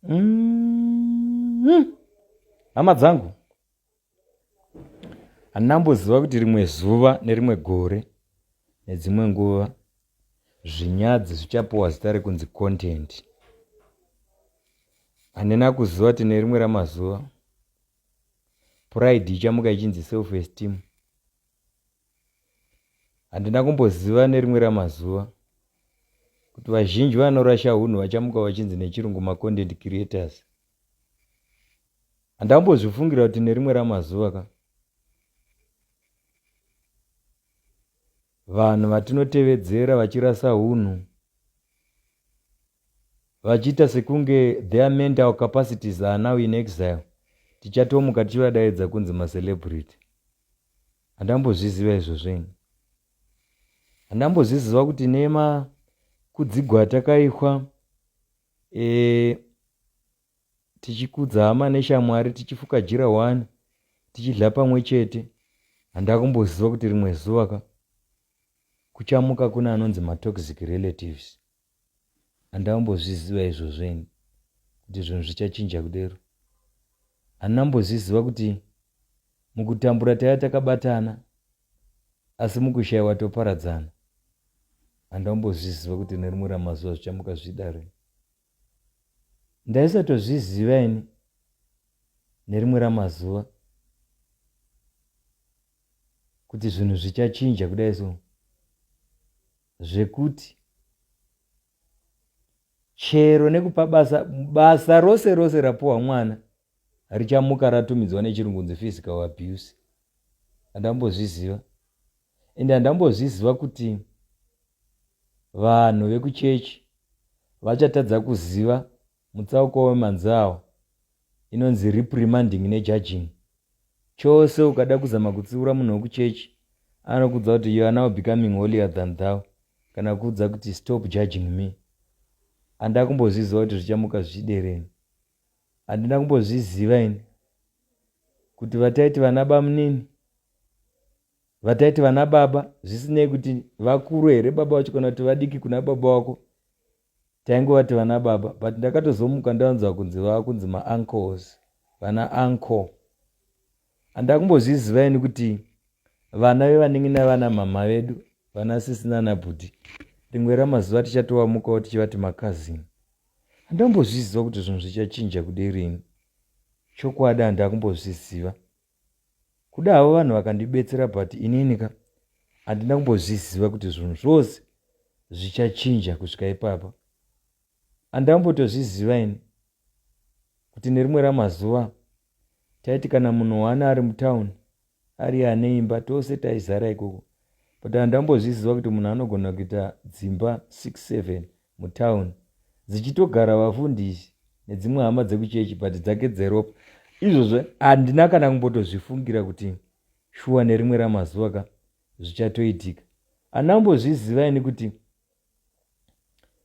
Mm-hmm. hama dzangu handina mboziva kuti rimwe zuva nerimwe gore nedzimwe nguva zvinyadzi zvichapiwa zita rekunzi content handina kuziva kuti nerimwe ramazuva pride ichamuka ichinzi self esteem Handina kumboziva nerimwe ramazuva kuti vazhinji vanorasha hunhu vachamuka vachinzi nechirungu macontent creators handambozvifungira kuti nerimwe ramazuva ka vanhu vatinotevedzera vachirasa hunhu vachiita sekunge their mental capacities are now in exile tichatomuka tichivadaidza kunzi macelebrity Handambozviziva izvozvo ini. Handambozviziva kuti nema kudzigwa atakaitwa e, tichikudza hama neshamwari tichifuka jira wani tichidla pamwe chete handakumboziva kuti rimwe zuva ka kuchamuka kune anonzi matoxic relatives handina kumbozviziva izvozvo ini kuti zvinhu zvichachinja kudero handina kumbozviziva kuti mukutambura taiva takabatana asi mukushayiwa toparadzana handina kumbozviziva kuti nerimwe ramazuva zvichamuka zvidare ndaisatozviziva ini nerimwe ramazuva kuti zvinhu zvichachinja kudai so zvekuti chero nekupa basa basa rose rose rapuwa mwana richamuka ratumidzwa nechirungu nzi physical abuse handambozviziva ende handambozviziva kuti vanhu vekuchechi vachatadza kuziva Mutsauko wemanzau inonzi reprimanding nejudging. Chose ukada kuzama kutsiura munhu wekuchechi anokuudza kuti you are now becoming holier than thou kana kuudza kuti stop judging me. Handina kumbozviziva kuti zvichamuka zvichidereni. Handina kumbozviziva ini kuti vataiti vana bamunini vataiti vana baba zvisinei kuti vakuru here baba vacho kana kuti vadiki kuna baba wako taingovati vana baba but ndakatozomuka ndavanzwa kunzi vakunzi maancles vana ancle handakumbozviziva ini kuti vana vevanenge navana mhamha vedu vana sisi nana bhudhi rimwe ramazuva tichatovamukawo tichivati makazini handambozviziva kuti zvinhu zvichachinja kude rini chokwadi handakumbozviziva kuda havo vanhu vakandibetsera but inini ka handina kumbozviziva kuti zvinhu zvose zvichachinja kusvika ipapa handina kumbotozviziva ini kuti nerimwe ramazuva taiti kana munhu waana ari mutown ari ane imba tose taizara ikoko but handina kumbozviziva kuti munhu anogona kuita dzimba 67 mutown dzichitogara vafundisi nedzimwe hama dzekuchechi but dzake dzeropa izvozvo handina kana kumbotozvifungira kuti shuwa nerimwe ramazuva ka zvichatoitika handina kumbozviziva ini kuti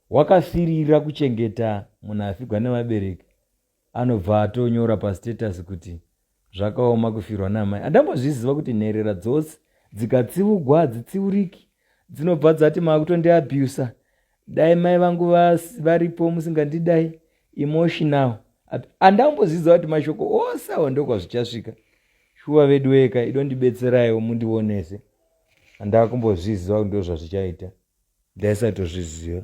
wakafirira kuchengeta munhu afigwa nevabereki anobva atonyora pastatus kuti zvakaoma kufirwa namai andambozviziva kuti nherera dzose dzikatsiugwa hadzitsiuriki dzinobva dzati maakutondiabusa dai mai vangu varipo musingandidai emotional andambozviziva kuti mashoko ose awo ndokwazvichasvika shuwa vedu weka idondibetseraiwo mundionese andakumbozviziva kuti ndozvazvichaita ndaisatozviziva